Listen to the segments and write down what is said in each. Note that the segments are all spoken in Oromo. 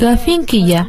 Gaaffiin kiyya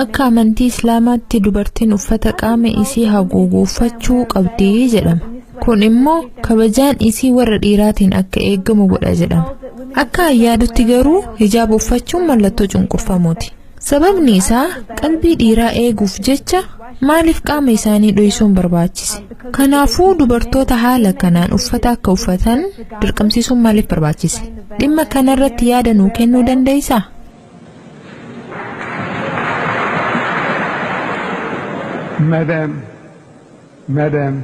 akka amantii Islaamaatti dubartiin uffata qaama isii haguugu uffachuu qabdi jedhama. Kun immoo kabajaan isii warra dhiiraatiin akka eegamu godha jedhama. Akka an yaadutti garuu hijaaba uffachuun mallattoo cunqurfamuuti. Sababni isaa qalbii dhiiraa eeguuf jecha maaliif qaama isaanii dhoysuun barbaachise? Kanaafuu dubartoota haala kanaan uffata akka uffatan dirqamsiisuun maaliif barbaachise? Dhimma kanarratti yaada nuu kennuu dandeessaa? Madame. Madam,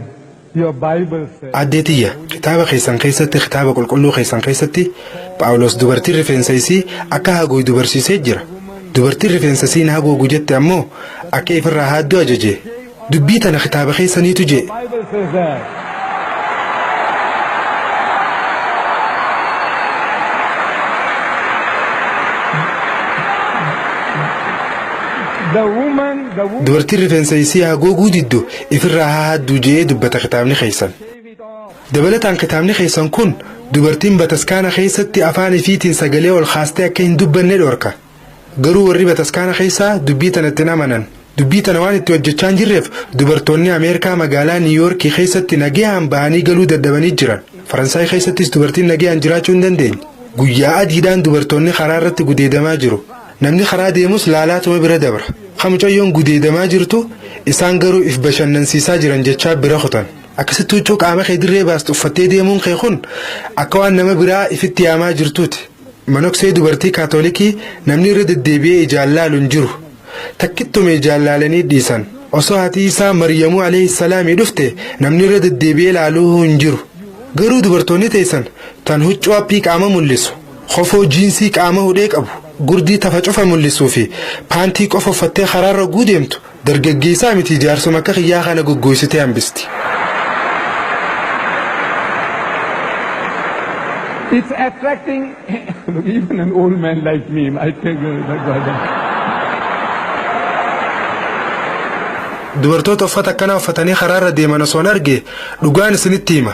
your Bible says. Aaddee tiyya, kitaaba keessan keessatti, kitaaba qulqulluu keessan keessatti, Phaawulos dubartiin rifeensa isii akka haguugdu barsiisee jira. Dubartiin rifeensa isii hin haguugu jette ammoo akka ifirraa haaddu ajaje. Dubbii tana kitaaba keessaniitu jee. Bible says that. The woman Dubartiin rifeensa isii hagooguu diddu ifirraa haa hadduu je'ee dubbata kitaabni keessan. Dabalataan kitaabni keessan kun dubartiin bataskaana keessatti afaan ifiitiin sagalee ol kaastee akka hin dubbanne dhorka. Garuu warri bataskaana keessaa dubbii tanatti hin amanan. Dubbii tana waan itti hojjachaa hin jirreef dubartoonni Ameerikaa magaalaa Niiw Yoorkii keessatti nagayaan bahanii galuu dadhabanii jiran. Faransaay keessattis dubartiin nagayaan jiraachuu hin dandeenye. Guyyaa adiidhaan dubartoonni karaa irratti gudeedamaa jiru. Namni karaa deemus laalaatuma bira dabra. Ka mucayyoon gudeedamaa jirtu isaan garuu if bashannansiisaa jiran jechaa bira kutan. Akkasitti huccuu qaama kee dirree baastu uffattee deemuun kee kun akka waan nama biraa ifitti yaamaa jirtuuti. Manoksee dubartii Kaatoolikii namni irra deddeebi'ee ijaan laalu hin jiru. Takkittuma ijaan laalanii dhiisan. Osoo haati Iisaa Maryamuu aleyhi salaamii dhufte namni irra deddeebi'ee laaluuhuu hin jiru. Garuu dubartoonni teessan tan huccuu appii qaama mul'isu Kofoo jiinsii qaama hudhee qabu, gurdii tafa cufa mul'isuu fi paantii qofa uffattee karaarra ogguu deemtu dargaggeessaa miti jaarsuma akka kiyyaa kana goggooysitee hambisti. It's attracting look even an old man like me I take Dubartoota uffata akkanaa uffatanii karaarra deeman osoon arge dhugaan isinitti hima.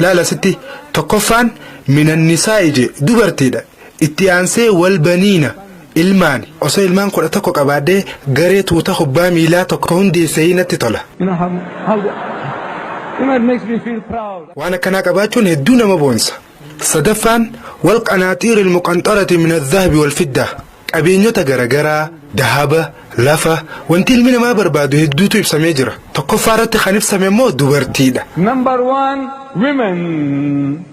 Laal asitti tokkoffaan minannisaa'i je dubartiidha. Itti aansee wal baniina ilmaani. Osoo ilmaan kudha tokko qabaadhee garee tuuta kubbaa miilaa tokko hundeessee natti tola. Waan akkanaa qabaachuun hedduu nama boonsa. Sadaffaan wal qanaaxiiril muqanxarati minadhahbi wal fiddaa. Qabeenyota garagaraa, dahaba, lafa, wanti ilmi namaa barbaadu hedduutu ibsamee jira. Tokkoffaa irratti kan ibsame immoo dubartiidha. Number one, women.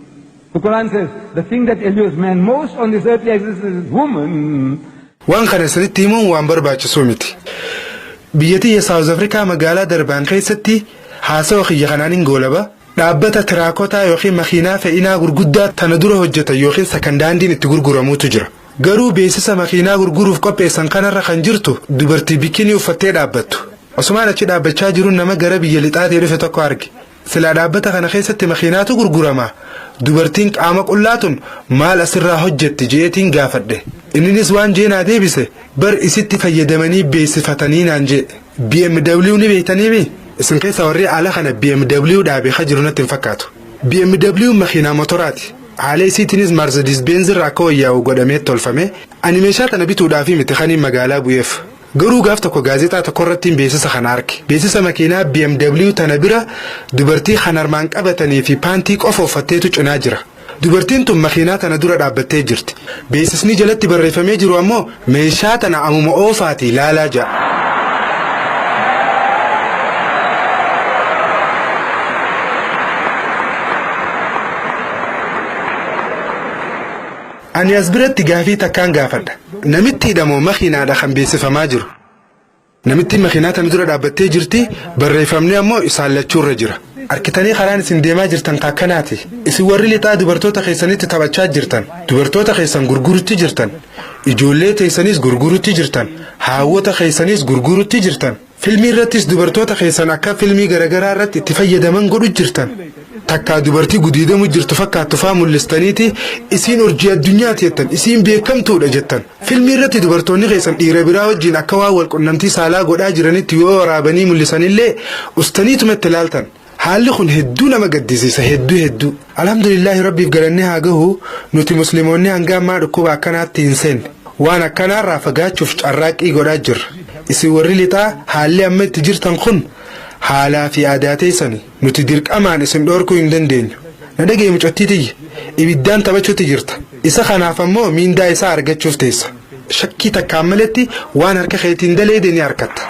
The Quran says, the thing that allures man most on this earthly existence is woman. Waan kana isinitti himuun waan barbaachisuu miti. Biyya tiyya Saawuz Afrikaa magaalaa Darbaan keessatti haasawa kiyya kanaanin goolaba. Dhaabbata tiraakotaa yookiin makiinaa fe'inaa gurguddaa tana dura hojjetan yookiin sakan daandiin itti gurguramuutu jira. Garuu beeksisa makiinaa gurguruuf qopheessan kanarra kan jirtu dubartii bikinii uffattee dhaabbattu. Osumaan achi dhaabbachaa jirun nama gara biyya lixaatii dhufe tokko arge. Silaa dhaabbata kana keessatti makiinaatu gurguramaa? Dubartiin qaama qullaa tun maal asirraa hojjetti je'eetiin gaafadhe. Inninis waan je'e naa deebise, bar isitti fayyadamanii beeksifatanii naan je'e. BMW ni beektanii mi? Isin keessa warri ala kana BMW dhaabee ka jiru natti hin fakkaatu. BMW makiinaa motoraati. Haala isiitiinis Maarsedis Beenz irra akka wayyaa'u godhamee tolfame. Ani meeshaa tana bituudhaafii miti kaniin magaalaa bu'eef. Garuu gaaf tokko gaazexaa tokko irrattiin beeksisa kana arke. Beeksisa makiinaa BMW tana bira dubartii kan harmaan qabatanii fi paantii qofa uffatteetu cinaa jira. Dubartiin tun makiinaa tana dura dhaabbattee jirti. Beeksisni jalatti barreeffamee jiru ammoo meeshaa tana amuma oofaatii laalaa jedha. Ani as biratti gaafii takkaan gaafadha. Namittiidha moo makiinaadha kan beeksifamaa jiru? Namittiin makiinaa tana dura dhaabbattee jirti, barreeffamni ammoo isaan lachuu irra jira. Arkitanii karaan isin deemaa jirtan ka akkanaati. Isin warri lixaa dubartoota keessanitti taphachaa jirtan, dubartoota keessan gurgurutti jirtan, ijoollee teessaniis gurgurutti jirtan, haawwota keessaniis gurgurutti jirtan, filmii irrattis dubartoota keessan akka filmii garagaraa irratti itti fayyadaman godhu jirtan, takkaa dubartii gudiidamu jirtu fakkaattu faa mul'istaniiti isiin urjii addunyaati jettan, isiin beekamtuudha jettan. Filmii irratti dubartoonni keessan dhiira biraa wajjiin akka waan wal qunnamtii saalaa godhaa jiranitti yoo waraabanii mullisan illee ustaniituma itti laaltan. Haalli kun hedduu nama gaddisiisa hedduu hedduu. Alhamdulillaahi Rabbiif galanni haa gahu nuti muslimoonni hanga ammaa dhukkuba akkanaatti hin seenne. Waan akkanaarraa fagaachuuf carraaqqii godhaa jirra. Isin warri lixaa haalli amma itti jirtan kun haalaa fi aadaa teessani. Nuti dirqamaan isin dhoorkuu hin dandeenyu. Na dhaga'i mucattii tiyya! Ibiddaan taphachuutti jirta. Isa kanaaf ammoo miindaa isaa argachuuf teessa. Shakkii takkaan maletti waan harka keetiin daleeyde ni arkatta.